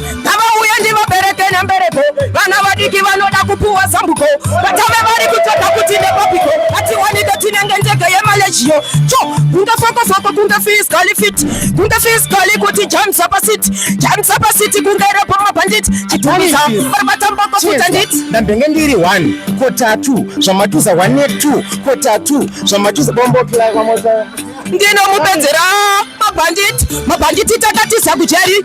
ngavauye ndivabereke nembereko vana vadiki vanoda kupuwa zambuko vatame vari kutsvaga kuti nepapiko atiwanike tinenge ndege yemalejiyo cho kunge fokofoko kunge fiskali fit kunge fiskali kuti jamisa pasiti jamisa pasiti kunge repo mabhanditi chidhumisa varivatamboko futa nditi ndambenge ndiri one kotatu zvamatuza one netwo kotatu zvamatuza bombokila kwamoza ndinomupedzera mabhanditi mabhanditi takatiza kujeri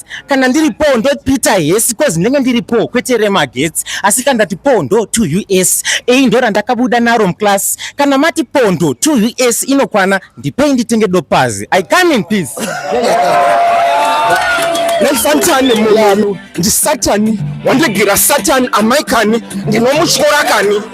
kana ndiri po ndo peter hesi cause ndenge ndiri po kwete remagetsi asi kana ndati po ndo to us ei ndo randakabuda naro muclass kana mati po ndo to us inokwana ndipei nditenge dopazi i come in peace nesatani mulanu ndisatani wandigira satani amaikani ndinomutyora kani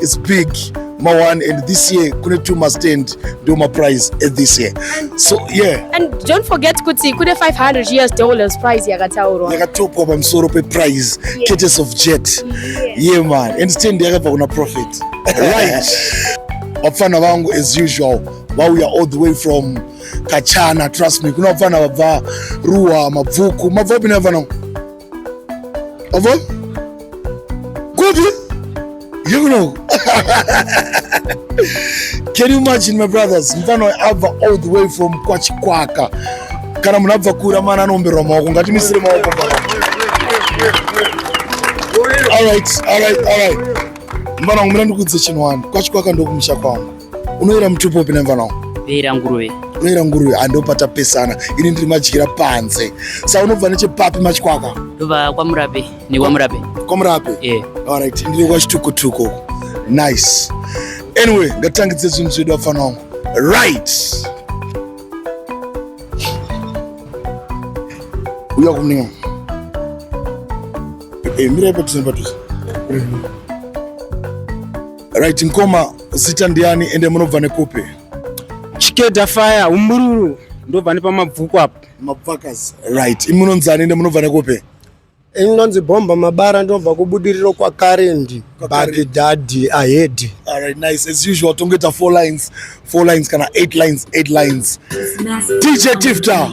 It's big ma one and this year kune two ma stand ndio ma prize at this year so yeah and don't forget kuti kune 500 years dollars prize yakataurwa yakatopwa pamusoro pe prize yeah. cates of jet yeah. yeah man and stand yakabva kuna profit right vapfana vangu as usual vauya all the way from kachana trust me kuna vapfana vabva ruwa mabvuku mabva api nevana Avo? Kupi? You know. Can you imagine my brothers? Mfano abva all the way from Kwachikwaka. Kana munhu abva kure amana anoomberwa maoko ngatimisire maoko pano. All right, all right, all right. Mfana wangu mira ndikudze chinhu wani. Kwachikwaka ndokumusha kwangu. unoyera mutupo upi nemvana wangu ndoyera nguruve ndoyera nguruve andopatapesana ini ndiri madyira panze sa unobva nechepapi machikwaka ndobva kwamurape nekwamurape kwamurape yeah. alright ndiri kwachitukutuku uko nice anyway ngatangidze zvinhu zvedu vafana wangu right uya kumninga eh, mira ipa tuze patuze right mkoma Zita ndiani ende munobva nekupi? Chikeda Fire Umbururu ndobva nepamabvuku apo. Mabvakazi. Right. Imunonzi ani ende munobva nekupi? inonzi bhomba mabara ndinobva kubudiriro kwakarendi bagidhadhi ahedhi alright nice as usual tongoita four lines four lines kana eight lines eight lines dj tifta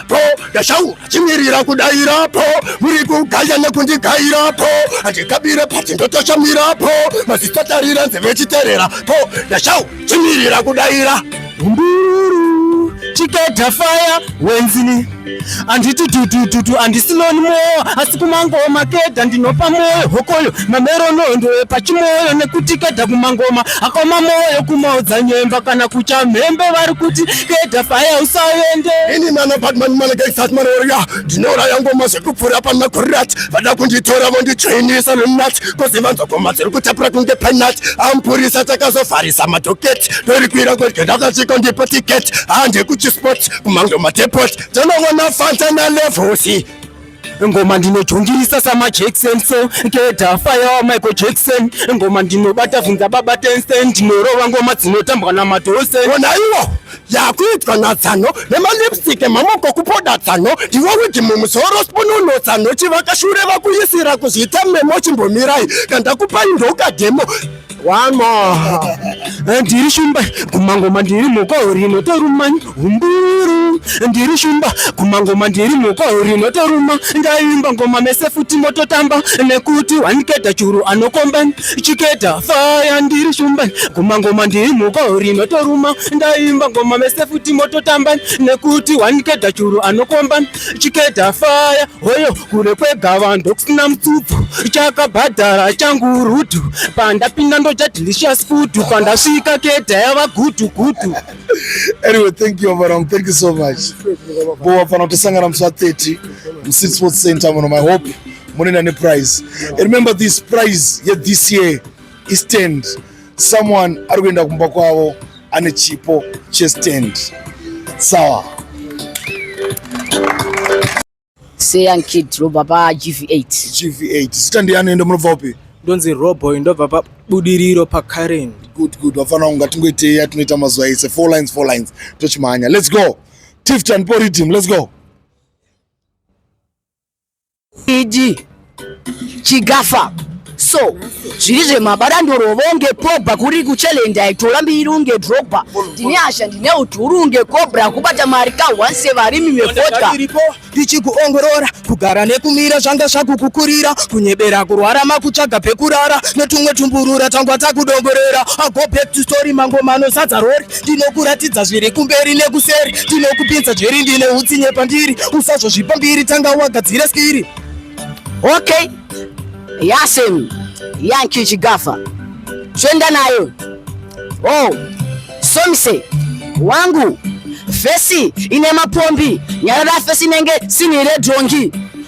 po ndashaura chimirira kudaira po muri kugaya nekundigaira po handikabire pati ndotoshamira po masitatarira nzeve chiterera po ndashaura chimirira kudaira mbiruru chiketa faya wenzini handiti tutututu handisiloni mwoyo asi kumangoma keda ndinopa mwoyo hokoyo mameronondo epachimwoyo nekuti keda kumangoma akoma mwoyo kumaodzanyemba kana kuchamhembe vari kuti Keda faya usavende. Ini mana Batman mana ke sat mana oria. Dinora yango mase kupfura pa makurat. Vada kunditora vondi chainisa lunat. Kosi vanzo koma tsiri kutapura kunge penat. Ampurisa takazofarisa madoketi. Tori kwira kwa keda kachiko ndipo ticket. Hande kuchi spot kumango matepot. Tana wana fanta na levosi. ngoma ndinojongirisa samajackson so ngeda fire wa michael jackson ngoma ndinobata vhinza baba tensen ndinorova ngoma dzinotambwa namadose onaiwo yakuitwa natsano nemalipstick emamoko kupoda tsano ndiwo wigi mumusoro spununo tsano chivakashure vakuisira kuzvita memo chimbomirai kandakupai ndokademo One more. Ndiri shumba kumangoma ndiri moko rino toruma humburu. Ndiri shumba kumangoma ndiri moko rino toruma. Ndaimba ngoma mese futi mototamba nekuti waniketa churu anokomba chiketa faya ndiri shumba kumangoma ndiri moko rino toruma. Ndaimba ngoma mese futi mototamba nekuti waniketa churu anokomba chiketa faya hoyo kure kwegava ndokusina mutsupfu chakabhadhara changu rutu pandapinda ndoja delicious food pandasvika keta yava gutu gutu anyway thank you Abraham thank you so much bo wafana kutosangana musi wa 30 musit sports center muno my hope munena neprize remember this prize ye this year istand someone ari kuenda kumba kwavo ane chipo chestand sawa seyan kid robva pagv8 gv8 zita ndiyani ende munobva upi ndonzi roboy ndobva pabudiriro pacurrent good good vafana kunga tingoitei yatinoita mazuva ese four lines four lines tochimhanya let's go tifton po rhythm let's go iji chigafa so zviri zvemabada ndorovonge pogba kuri kuchallenge aitola mbiri unge drogba ndine hasha ndine udhuru unge cobra kubata mari ka once varimi vefodka ndichikuongorora kugara nekumira zvanga zvakukukurira kunyebera kurwara makutsvaga pekurara netumwe tumburura tangwa takudongorera ago back to story mangomano sadza rori ndinokuratidza zviri kumberi nekuseri ndinokupinza jeri ndine utsinye pandiri usazvozvipa mbiri tanga wagadzire skiri okay yasem yanki chigafa zvoenda nayo oh somise wangu fesi ine mapombi nyarara fesi inenge sinhi redhongi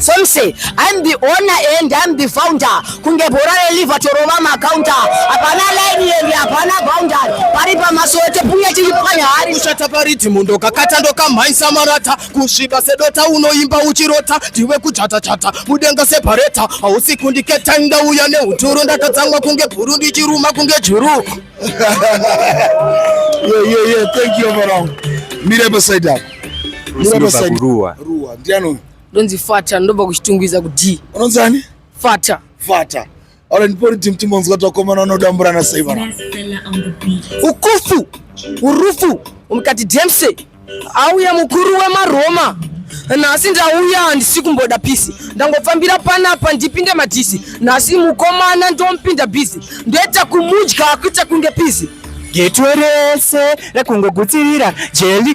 Somse, I'm the owner and I'm the founder. Kunge bhora reliva torova macounter. Hapana line yendi, hapana boundary. Pari pamasote puya chiri panyari. Kushata pariti mundo kakata ndokamhaisa marata. Kusvika sedota unoimba uchirota. Ndiwe kuchata chata, mudenga separeta. Hausi kundiketa ndauya neuturu. Ndakatsamwa kunge bhuru ndichiruma kunge juru. Yeah, yeah, yeah. Thank you, Varong. Mira beside that. Mira beside. Ruwa. Ruwa. Ndiano. Ndonzi fata ndobva kuchitungwiza kudii? Unonzi ani? Fata. Fata. Ora ndipori team timonzwa twakomana unodamburana sei vana. Ukufu. Urufu. Umkati Dempsey. Auya mukuru wemaroma nhasi ndauya handisi kumboda pisi ndangofambira panapa ndipinde madhisi nhasi mukomana ndomupinda bhizi ndoita kumudya akuita kunge pizi getwe rese rekungogutsirira jeli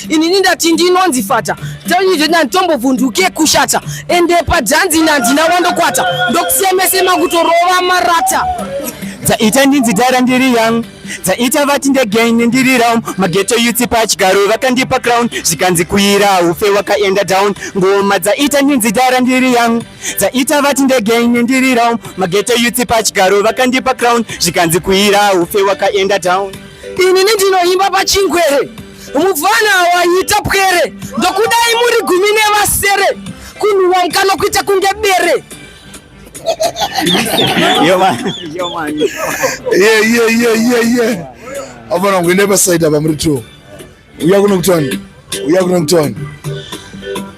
inini ndati ndinonzi fata ndatombovhunduke kushata ende padzanzi nandina wandokwata ndokusemesema kutorova marata dzaita ndinzi dara ndiri young dzaita vati ndegain ndiri round mageto yuti pachigaro vakandipa crown zvikanzi kuira ufe wakaenda down ngoma dzaita ndinzi dara ndiri young dzaita vati ndegain ndiri round mageto yuti pachigaro vakandipa crown zvikanzi kuira ufe wakaenda down inini ndinoimba pachingwere mufana waita pwere ndokudai muri gumi nevasere kunhuwa mukana kuita kunge bere avana kuenda pasaidi apa muri two uya kunokutoni uya kunokutoni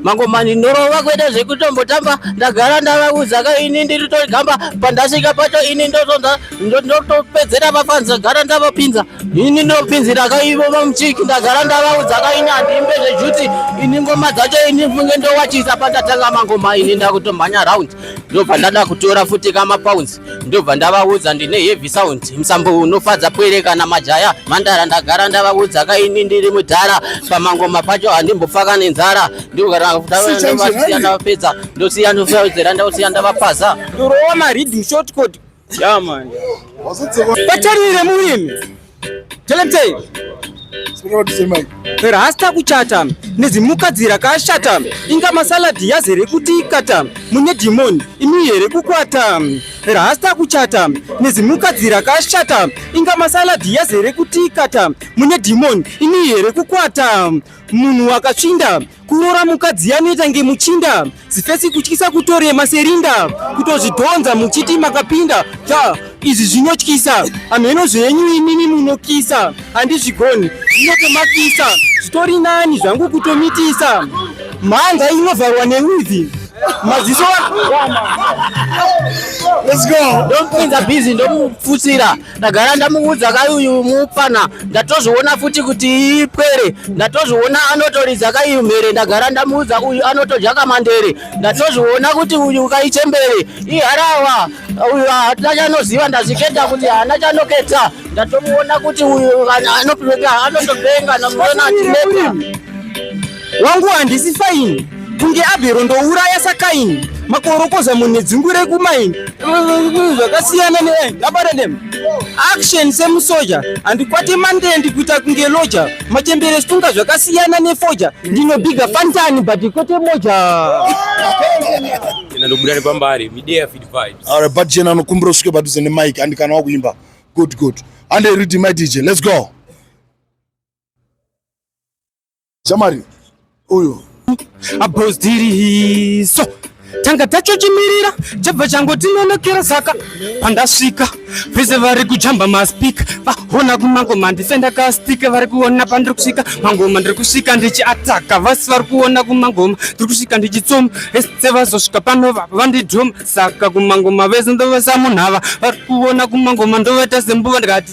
mangomani ndorova kuita zvekutombotamba ndagara ndavaudza ka ini ndiri togamba pandasvika pacho ini ndotonza ndotopedzera vafanza gara ndavapinza ini ndopinzira ka ivo vamuchiki ndagara ndavaudza ka ini handiimbe zvejuti ini ngoma dzacho ini funge ndowachisa pandatanga mangoma ini ndakutomhanya round ndobva ndada kutora futi kamapounds ndobva ndavaudza ndine heavy sound musambo unofadza pwere kana majaya mandara ndagara ndavaudza kaini ndiri mudhara pamangoma pacho handimbopfaka nenzara ndivapedza ndosiya ndosaudzera ndosiya ndavapaza ndorova maridm short code yaman vatarire murimi Telemtei. Rasta kuchata nezimukadzi rakashata inga masaladi yazere kuti ikata mune dhimoni imi here kukwata rasta kuchata nezimukadzi rakashata inga masaladi yazere kuti ikata mune dhimoni imi here kukwata munhu wakatsvinda kurora mukadzi yanoita ngemuchinda zifesi kutyisa kutorema serinda kutozvidhonza muchiti makapinda ta izvi zvinotyisa hamheno zvenyu imimi munokisa handizvigoni zvinotomakisa zvitori nani zvangu kutomitisa mhanga inovharwa neuvi maziso let's go ndomupinza busy ndomufutsira ndagara ndamuudza kai uyu mupfanha ndatozviona futi kuti ipwere ndatozviona anotoridza kai mhere ndagara ndamuudza uyu anotodya kamandere ndatozviona kuti uyu kai chembere iharawa uyu haana chanoziva ndazviketa kuti haana chanoketa ndatomuona kuti uyu anotopenga namuona atineta Wangu handisi faini kunge abhero ndouraya sakaini makorokoza munhu nedzungu rekumaini zvakasiyana neabata dem action semusoja handikwate mande ndikuita kunge loja machembere situnga zvakasiyana nefoja ndinobiga fantani but kwete moja ndobuda nepambari midea feed vibes all right but jena anokumbira usvike padhuze nemike and kana wakuimba good good and rhythm my dj let's go Shamari uyu abhozdirihiso tanga tachochimirira chabva changotinonokera saka pandasvika vese vari kujamba maspika vaona kumangoma ndise ndakastika vari kuona pandiri kusvika mangoma ndiri kusvika ndichiataka vasi vari kuona kumangoma ndiri kusvika ndichitsoma ese vazosvika pano vandidhoma saka kumangoma vese ndovasamunhava vari kuona kumangoma ndovaita sembuva ndikati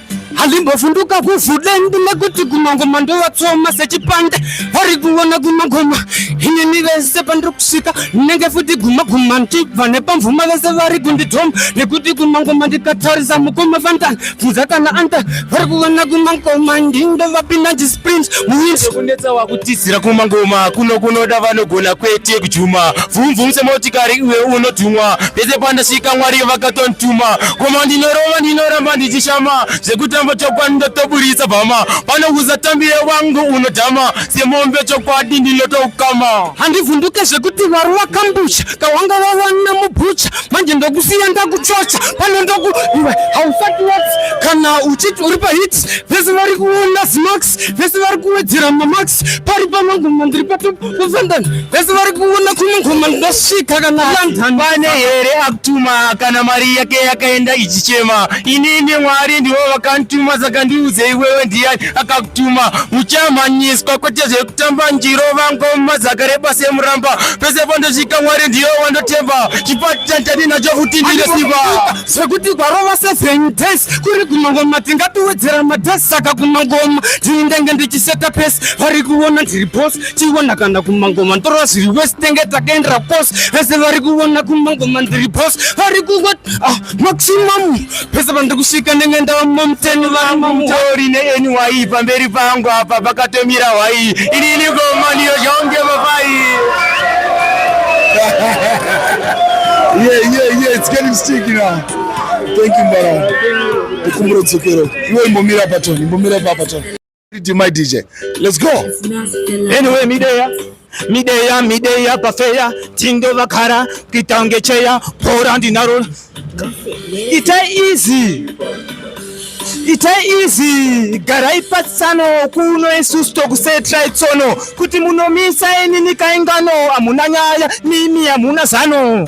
halimbovhunduka kuvhudende nekuti kumangoma ndovatsoma sechipande vari kuona kumagoma inini vese pandiri kusvika ndinenge futi gumaguma ndibva nepamvuma vese vari kundidhoma nekuti kumangoma ndikatarisa mukoma vandan bvunza kana anda vari kuona kumangoma ndindo vapinda ndisprint muwinkunetsa wakutizira kumangoma kuno kunoda vanogona kwete kujuma vhumvum semotikari iwe unotumwa pese pandasvika mwari vakatondituma goma ndinorova ndinoramba tichishama zvekutamba chokwadi ndotoburitsa bhama pano kuzatambire wangu unodhama semombe chokwadi ndinotoukama handivhunduke zvekuti vari wakambusha kawanga wawana mubhucha manje ndokusiya ndakuchocha pano ndoku iwe hausati wati kana uchiti uri pahit vese vari kuona zimax vese vari kuwedzera mamax pari pamangoma ndiri patopa Kuzondani vese vari kuona kumwe ngoma ndosvika kana London. Pane here akutuma kana mari yake yakaenda ichichema. Inini Mwari ndivo vakandituma saka ndiudzei wewe ndiyani akakutuma. Muchamhanyiswa kwete zvekutamba njiro vangoma dzakareba semuramba. Pese pandosvika Mwari ndiyo wandotemba. Chipati chandadii nacho futi ndine simba. zvekuti kwarova seven days kuri kumangoma tingatiwedzera madays saka kumangoma ndini ndenge ndichiseta pesi vari kuona ndiri bos tiona kana kumangoma ndorova zviri wesi tenge takaendera kos vese vari kuona kumangoma ndiri bos vari kuwa ah, maximum pese pandiri kusvika ndenge ndava mamuteni vamamutauri neny pamberi pangu apa pakatomira hwai ini ini goma ndiyo zvaunge papai yeah, yeah, yeah. It's getting sticky now. Thank you Mbara. Ndikumbura dzokero. Iwe imbomira patoni, imbomira pa patoni. DJ my DJ. Let's go. Anyway, Mideya. Mideya, Mideya pafeya, tindo vakara, kitange cheya, pora ndinaro. It's easy. It's easy. Garai patsano kuno isusu tokusetra itsono kuti munomisa enini kaingano amuna nyaya mimi amuna zano.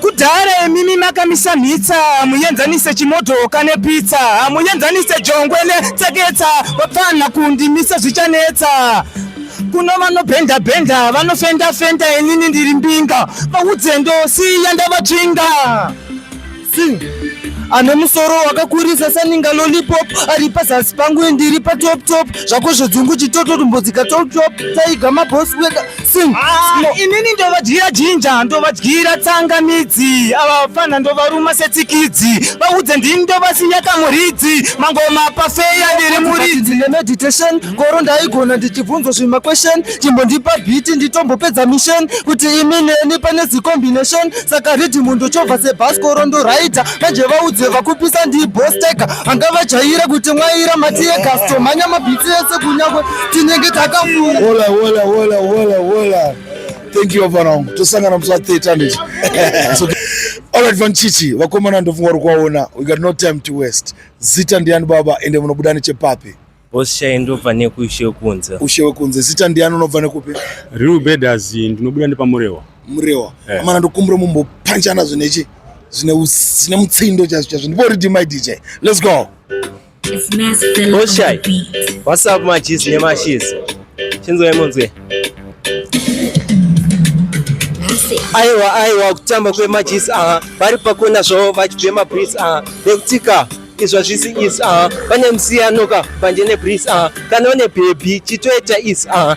Kudhara imimi makamisa mhitsa hamuenzanise chimodhoka nepitsa hamuenzanise jongwe netseketsa vapfanha kundimisa zvichanetsa kuno vanobhenda bhenda vanofenda fenda inini ndiri mbinga vaudze ndosiya ndavatsvinga Sing ane musoro wakakurisa saninga lollipop ari pazasi pangu ndiri patop top zvako zvodzungu chitoto tumbodzika top top taiga mabosi wega inini ndovadyira jinja ndovadyira tsangamidzi ava vafana ndovaruma setsikidzi vaudze ndini ndovasiya kamuridzi mangoma pafeya ndiri muridzi nemeditation koro ndaigona ndichibvunzwa zvimaquestion chimbondipa bhiti nditombopedza mission kuti imi neni pane zicombination saka ridhimu ndochovha sebhas koro ndoraita manje vaudze vakupisa ndibosteka anga vajaira kuti mwaira matiye kastomhanya mabhiti ese kunyangwe tinenge takafuya wola wola wola wola wola thank you vana wangu tosangana musi wa 30 handiti alright vanchichi vakomana ndofunga uri kuvaona we got no time to waste zita ndiani baba ende munobuda nechepapi Osha ndobva nekushe kunze. Ushe wekunze zita ndiani unobva nekupi? Real Bedas ndinobuda nepamurewa. Murewa. Eh. Amana ndokumbura mumbopanchana zvinechi zvine zvine mutsindo chazvo chazvo. Ndibori my DJ. Let's go. Oshai, what's up machis nemashis? Chinzwa imunzwe. Aiwa aiwa kutamba kwemachis aha vari pakona zvavo vachibhema breeze aha nekutika izvo zvisi is aha pane musiyano ka panje nebreeze aha kana une bhebhi chitoita is aha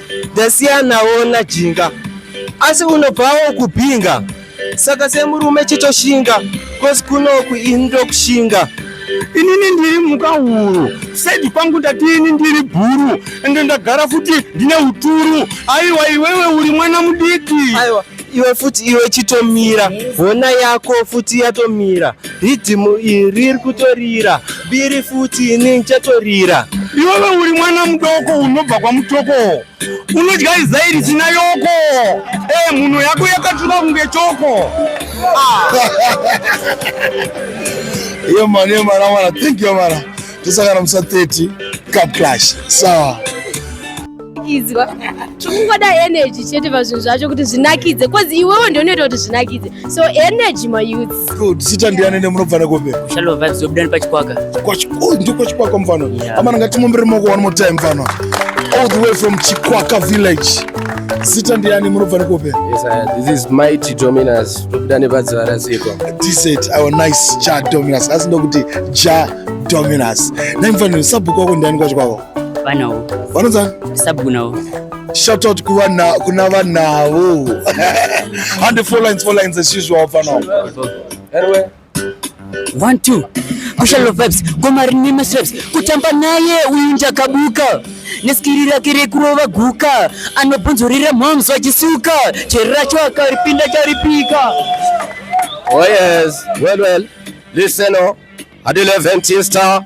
ndasiyanawo najinga asi unobvawo kubhinga saka semurume chitoshinga kosi kunoku ini ndokushinga inini ndiri mhuka huru saidi kwangu ndati ini ndiri bhuru ende ndagara futi ndine uturu aiwa iwewe uri mwana mudiki aiwa iwe futi iwe chitomira hona yako futi yatomira ridhimu iri riri kutorira biri futi ini chatorira iwewe uri mwana mudoko unobva kwamutoko unodya izai risina yoko e mhuno yako yakatura kunge choko ah. iyo mani iyo mara mwana thank you mara tosangana musa 30 cup clash sawa so. kunakidzwa tikungoda energy chete pazvinhu zvacho kuti zvinakidze bcause iwewo ndio unoita kuti zvinakidze so energy mayouths good sita ndiyani nemunobva nekope shalo vibes yobuda nepachikwaka ndiko oh, chikwaka mfana amana ngatimumbire moko one more time mfana all the way from chikwaka village sita ndiyani munobva nekope tobuda nepadziva rasikwa tiset our nice ja dominus asi ndokuti ja dominus naimfaniro sabhuku wako ndiyani kwacho kwako Vanawo. Vanonzani? Sabhuku nawo. Shout out kuvana kuna vanawo. Hande four lines four lines as usual vanawo. Herwe. One two. Kushalo vibes, goma rine masreps, kutamba naye uyu njakabuka neskiri rake rekurova guka anobvunzurira moms vachisuka chero racho akaripinda charipika Oh yes, well well, listen oh, at 11 Tista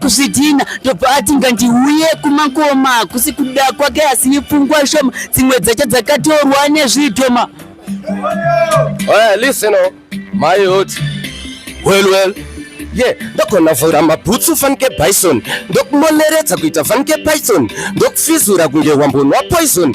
kuzvidhina ndobva ati ngandiuye kumakoma kusi kuda kwake asi ipfungwa shoma dzimwe dzacho dzakatorwa nezvidhoma Well, listen, oh, my youth. Well, well. ye yeah, ndokonavhura mabhutsu fanike bison ndokumoneredza kuita fanike python ndokufizura kunge wambonwa poison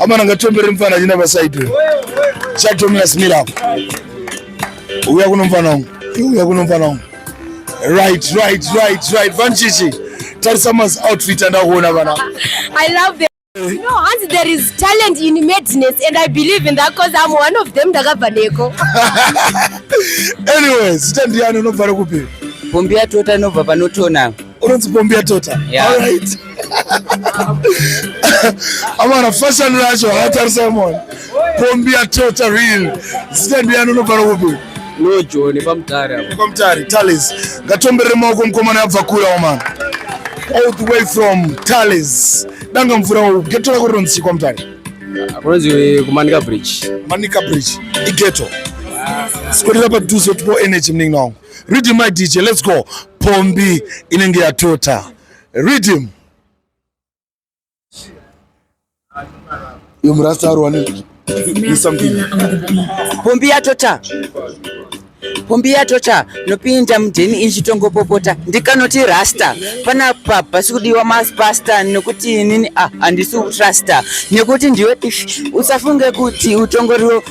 amana ngatombere mfana achina pasaidwe chatomira simira apo uya kuno mfana wangu uya kuno mfana wangu right right right right vanchichi tarisa mas outfit andakuona vana i love them No, hanzi there is talent in madness and I believe in that because I'm one of them ndakabva neko. Anyway, zita ndiyani unobva rekupi? Pombi yatota inobva panotona. Unonzi pombi yatota. Yeah. All right. amana fashion racho haatarisa mona kombi yatota real zita ndiyani unobvara kupi lojoni pamutari pamutari tales ngatomberere maoko mukomana yabva kure omana all the way from tales danga mvura wau geto rako rinonzi chikwa mutari kunonzi kumanika bridge manika bridge igeto sikwedera padhuze kuti po energy muningi wangu read my dj let's go pombi inenge yatota Read him. Yo murasta ari wani. Pombi yatota. Pombi yatota nopinda mudheni ichitongopopota ndikanoti rasta panapa pasi kudiwa maspasta nokuti inini ah, handisi utrasta nekuti ndiwe usafunge kuti utongoriwo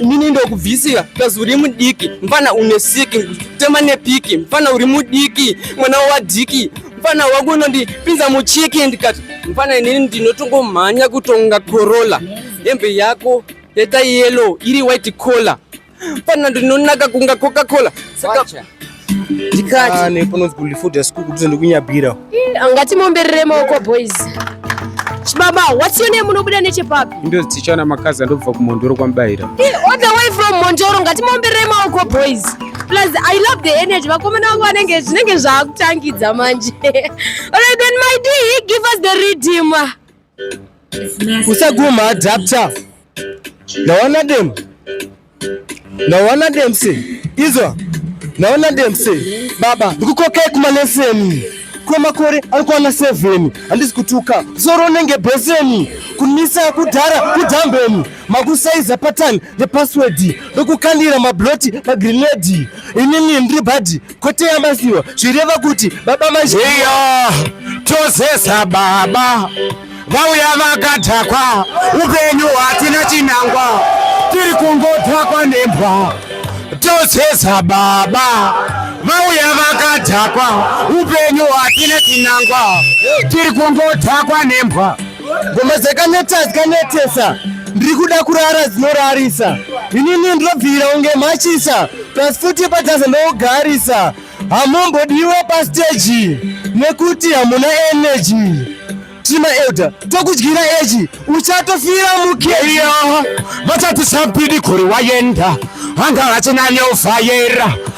inini ndokubvisira kazi uri mudiki mfana une siki kutema nepiki mfana uri mudiki mwana wadiki mfana wako unondipinza muchiki ndikati mfana inini ndinotongomhanya kutonga corolla hembe yako yeta yellow iri white collar mfana ndinonaka kunga coca cola saka ndikati ane panonzi kulifoda school kuti ndikunyabira angati momberere maoko boys chibaba what's your name unobuda nechepapi ndo ticha na makazi andobva kumondoro kwamubayira all the way from mondoro ngati momberere maoko boys plus i love the energy vakomana vangu vanenge zvinenge zvaakutangidza manje alright then my d give us the redeemer usaguma adapter naona dem naona dem se izwa naona dem se baba ndikukokei kumaleseni kwemakore ari kuwana sevheni handisi kutuka zoro unenge bheseni kunisa kudhara kudhambeni makusaiza patani nepaswedi ndokukandira mabloti magrinedi inini ndiri bhadhi kwete yamasiwa zvireva kuti baba mazheyo tozesa baba vauya vakadhakwa upenyu hwatina chinangwa tiri kungodhakwa nembwa tozesa baba vauya vakadhakwa upenyu hwatina chinangwa tiri kungodhakwa nembwa Ngoma dzakaneta dzakanetesa ndiri kuda kurara dzinorarisa inini ndinobvira unge machisa plus futi padhaza ndogarisa hamumbodiwe pasteji nekuti hamuna energy tima elder tokudyira eji uchatofira mukeya vachati sambidi kuri wayenda anga achina neufayera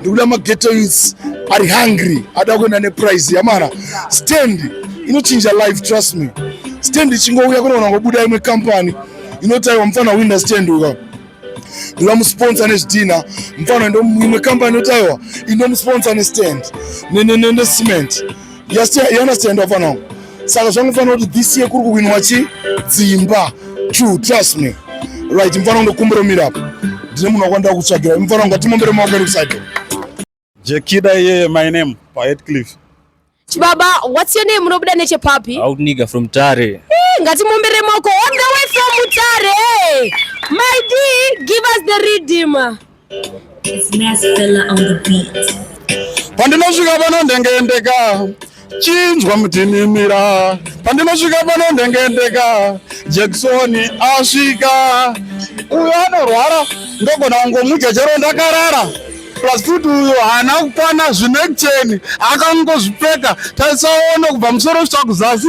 ndikuda mageto youths ari hungry ada kuenda neprize yamara stand inochinja life trust me stand ichingouya kunoona ngobuda imwe company inotaiwa mufana winda stand uka ndinoda musponsa nezvidhina mufana imwe company inotaiwa inomusponsa nestand necement ne, ne, ne, ne you understand wafana wangu saka zvangofanira kuti this year kuri kuwinwa chi dzimba true trust me right mfana wangu ndokumbira umira apo ndine munhu wakwandira kutsvagira mfana wangu atimombere maoko eri kuside jekida iye my name pahetcliff chibaba what's your name unobuda nechepapi out nigga from tare hey, eh, ngatimombere maoko on the way from tare my d give us the redeemer pandinosvika pano ndengeendeka chinzwa mutinimira pandinosvika pano ndengeendeka jekisoni asvika uyo anorwara ndogona kungomudya chero ndakarara plus futi uyo haana kukwana zvinekuteni akangozvipfeka taisaona kubva musoro kusvika kuzasi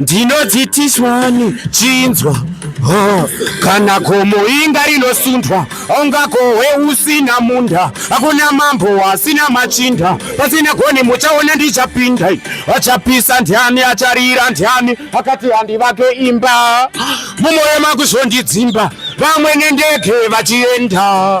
ndinodzitiswani chinzwa oh, kana gomo inga rinosundwa ungakohwe usina munda hakuna mambo asina machinda pasina goni muchaona ndichapinda achapisa ndiani acharira ndiani akati handivake imba mumoyo makuzondidzimba vamwe nendege vachienda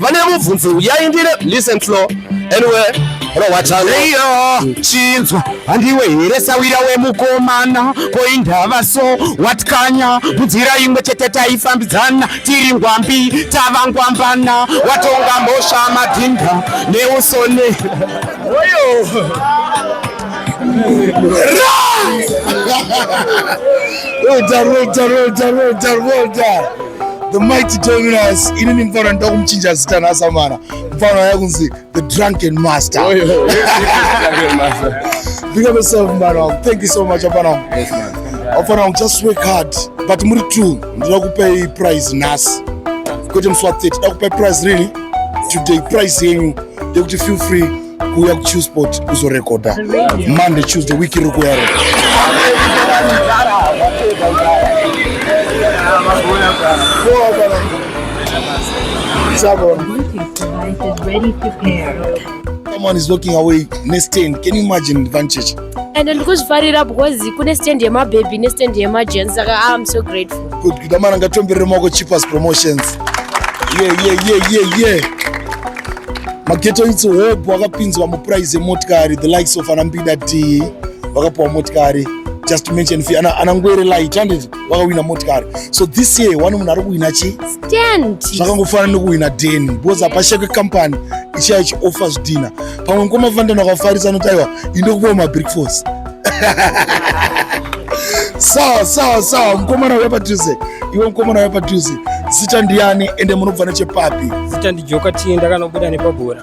vane mubvunzo uyai ndire listen flow anyway rowachaleiyo chinzwa handiwe here sawira wemukomana koindava so watkanya munzira imwe chete taifambidzana tiri ngwambi tava ngwambana watonga mhosva madhinda neusone oyo Well done, well done, well done, well done, well done. The mighty joining us inini mfana ndoda kumuchinja zita nasamana mfana waya kunzi the drunken master oh, yeah. big up yourself mfana wangu thank you so much mfana wangu mfana wangu just work hard but muri true ndinoda kupei prize nhasi kwete musi wa 30 da kupei prize rini today prize yenyu yekuti feel free kuuya kuchill sport kuzorekodha monday tuesday week iri kuyaro Someone is walking away next 10. Can you imagine Vanchech? and ndikuzvifarira because kune stand yemababy nestand yemagensi saka ah, im so grateful good good amana ngatomberere maoko cheapers promotions yeah, yeah, yeah, yeah, yeah. mageto itsi hope wakapinzwa mupuraizi yemotikari the likes of anambida d vakapiwa motikari just to mention fi ana, ana ngwere light handiti vakawina motikari so this year one munhu ari kuwina chi stand zvakangofanana nekuwina den because apashekwe company ichiya ichioffa zvidhina pamwe mukoma fandana wakafarisa anoti aiwa indokupawo mabreakfast sawa sawa sawa mukomana uya padhuze iwe mukomana uya padhuze zita ndiyani ende munobva nechepapi zita ndijoka tiye ndakanobuda nepabhora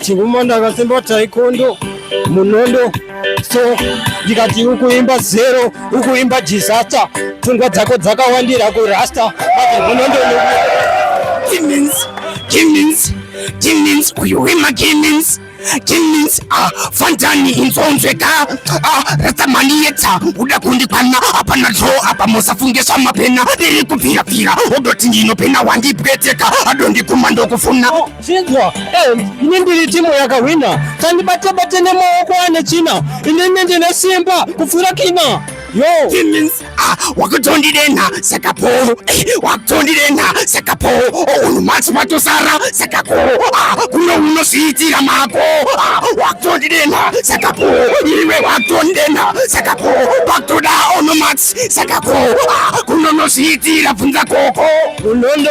Chinguma ndakasimba taikondo munondo so ndikati ukuimba zero ukuimba disaster pfungwa dzako dzakawandira kurasta munondo Demons, demons, demons, uyu wema demons Kings ah, fanzani inzonzweka ah, ratsamani yetsa uda kundikwana hapana zvo apa musafunge zvamapena ndiri kupfirapfira odoti ndinopena wandibweteka adondikuma ndokufuna Chinzwa, eh, ini ndiri timu yakahwina kandibate bate nemaoko ane china inini ndine simba kupfuura kina yo Demons, ah, wakutondidenha saka po eh, wakutondidenha saka po unhu matsi matosara saka ko ah, kuno unozviitira mako ah, wakutondidenha saka po iwe wakutondidenha saka po pakutoda ono matsi saka ko ah, kuno unozviitira bvunza koko unondo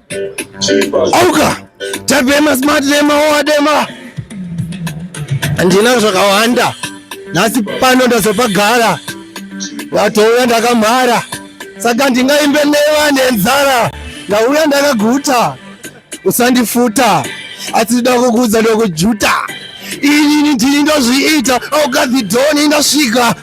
Auka tapema smart dema owadema handina zvakawanda nhasi pano ndazopagara vatouya ndakamhara saka ndingaimbe neva nenzara ndauya ndakaguta usandifuta asi ndida kukuudza ndokujuta inini ndini ndozviita aukadhidhoni ndasvika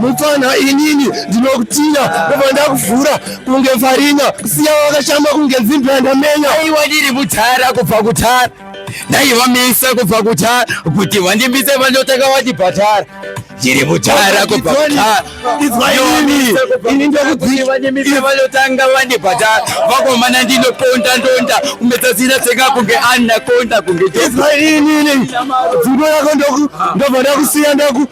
mupfanha inini ndinokutinya ndobva ndakuvhura kunge farina kusiya wakashama kunge dzimbira ndamenya aiwa ndiri mutara kubva kutara ndaivamisa kubva kutara kuti wandimisa vandotanga wandibhatara ndiri mutara kubva kutara ini ndokudziimisa vandotanga wandibhatara vakomana ndinoponda ndonda kumetsasina tsenga kunge anna konda kunge inini dzundo yako ndobva ndakusiya ndaku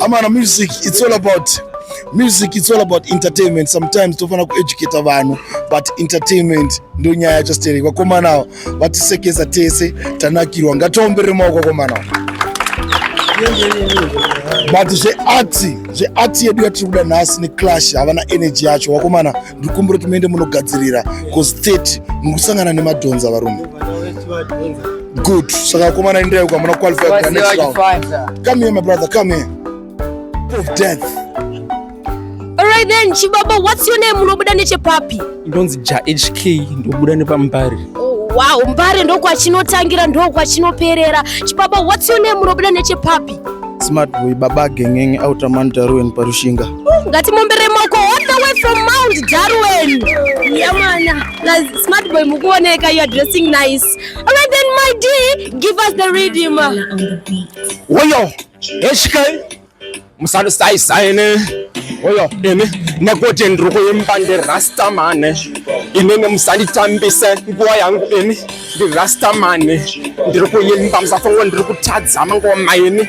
Amana music it's all about music it's all about entertainment sometimes tofanira kueducata vanhu but entertainment ndo nyaya yacho stereki vakomana ava vatisekesa tese tanakirwa ngatiomberere maoko vakomana ava but zvearti zvearti yedu yatiri kuda nhasi neclash havana energy yacho vakomana ndikumbira kuti muende munogadzirira cause 30 muri kusangana nemadhonza varume good saka vakomana enderai uko hamuna qualify kuna next round come here my brother come here of death Alright then, Chibaba, what's your name? Unobuda nechepapi? Ndonzi Ja HK, ndobuda nepambari. Oh, wow, mbare ndokwachinotangira ndokwachinoperera. Chibaba, what's your name? Unobuda nechepapi? Smart boy, baba gengenge, outer man, Darwin, Parushinga. ngatimomberei maoko all the way from mount darwin yamana plus smart boy mukuoneka you are dressing nice alright then my d give us the rhythm woyo eshikai musalusaisaine oyo ini nekuti ndiri kuimba ndirastamane inini musanditambise nguva yangu ini ndirastamane ndiri kuimba musafungo ndiri kutadza mangoma ini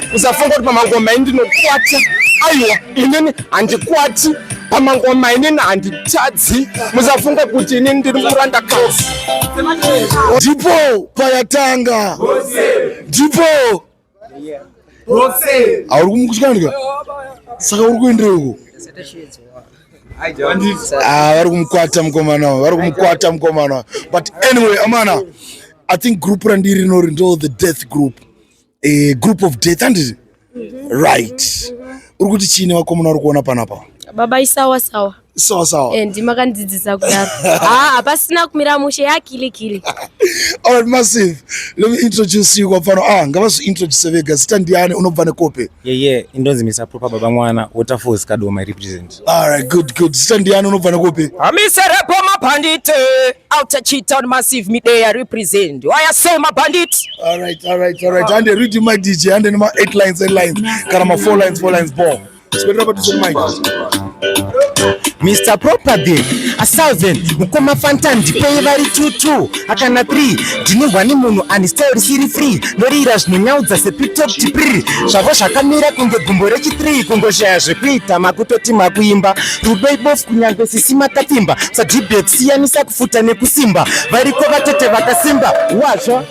usafunga kuti pamangoma ini ndinokwata aiwa inini handikwati pamangoma inini handitadzi musafunga kuti inini ndiri muranda kasi ndipo payatanga ndipo auri kumukutyanika saka uri kuendereuko Ah, vari kumukwata mukomana wavo vari kumukwata mukomana wavo but anyway amana i think group randiri rinori ndo the death group a group of death and mm-hmm. right mm-hmm. uri kuti chiine vakomana uri kuona panapa baba isawa sawa sawa sawa and eh, makandidzidzisa kudaro ah hapasina kumira mushe yakili kili all right massive let me introduce you kwapano ah ngavazi introduce vega zita ndiani unobva nekope yeah yeah indonzi misa proper baba mwana waterfalls kadoma represent All right, good, good. Zita ndiani unobvana kupi? Amiserepo mabhandit outer Chitown Massive Midea represent. Why are so mabhandit? All right, all right, all right. And read my DJ and then my eight lines, eight lines. Kana ma four lines, four lines, ball. Spend up to the mic. Mr. Proper Day, a thousand, mukoma fantan, ndipei vari tutu. Akana 3 ndinehwa nemunhu ani style risiri free noriira zvinonyaudza sepitokti pri zvavo zvakamira kunge gumbo rechi 3 kungoshaya zvekuita makutoti makuimba rudo ibofu kunyange sisi makapfimba sadibet siyanisa kufuta nekusimba variko vatete vakasimba wazvo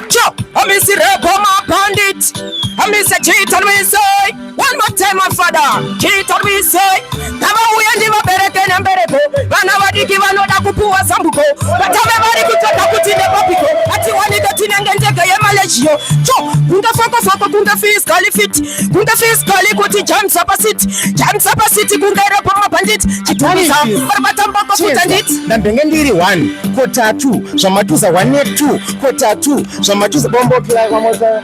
cho amisi rebo mabandit amisa chitanwisoi One more time, my father. He told me, say, Kama uye ndi vabereke na mbereko. Vana vadiki vanoda kupuwa zambuko. Vatame vari kutoka kuti nepapiko. Ati wanike tinenge ndege yemalejio. Cho, kunga foko foko, kunga fiskali fit. Kunga fiskali kuti jam sapa sit. Jam sapa sit, kunga repo mabandit. Chitumiza, barbata mbako kutandit. Na mbenge ndiri one, kota two. Zvamatuza one, two, kota two. Zvamatuza bombo kila kwa moza.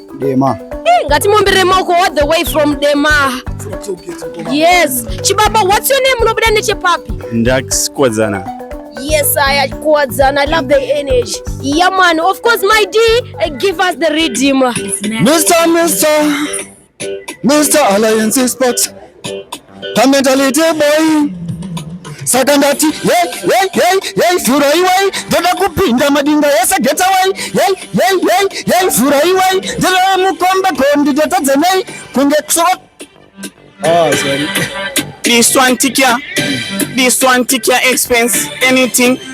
Dema. Hey, ngatimomberere maoko all the way from Dema. Yes. Chibaba, what's your name? Unobuda nechepapi? Ndax Kwadzana. Yes, I Kwadzana. I love the energy. Yeah, man. Of course, my D, uh, give us the rhythm. Mr. Mr. Mr. Alliance Sports. pamentality boy saka ndati yei yei yei yei vhurai wai ndoda kupinda madinga yese geta wai yei yei yei yei vhurai wai ndoda mukombe gondi ndotadza nei kunge kusoko Oh, sorry. This one tick ya. This one tick ya expense. Anything.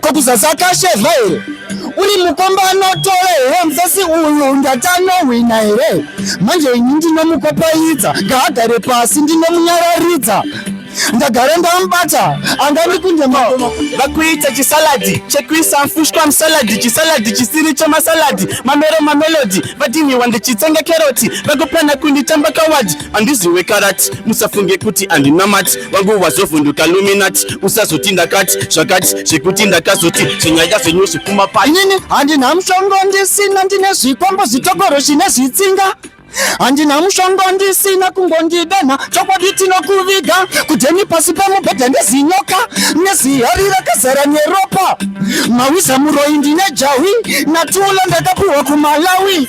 Ko kuzasi akasheva here? Uri mukomba anotora here musasi uyu ndati anohwina here? Manje ini ndinomukopaidza ngaagare pasi ndinomunyararidza ndagara ndamubata angani kunde mao vakuita chisaladi chekuisa mfushwa musaladi chisaladi chisiri chemasaladi mamero mamelodi vadinhiwa ndichitsenga keroti vakupana kunditamba kawadi andiziwe karati musafunge kuti andinamati wangu wazovhunduka luminati usazoti ndakati zvakati zvekuti ndakazoti zvenyaya zvenyu zvipfuma pai inini handina mushongo ndisina ndine zvikombo zvitokoro zvine zvitsinga handina mushongo ndisina kungondidenha chokwadi tinokuviga kudheni pasi pemubhedha nezinyoka nezihari rakazara neropa mawiza muroyi ndine jahwi natulo ndakapuhwa kumalawi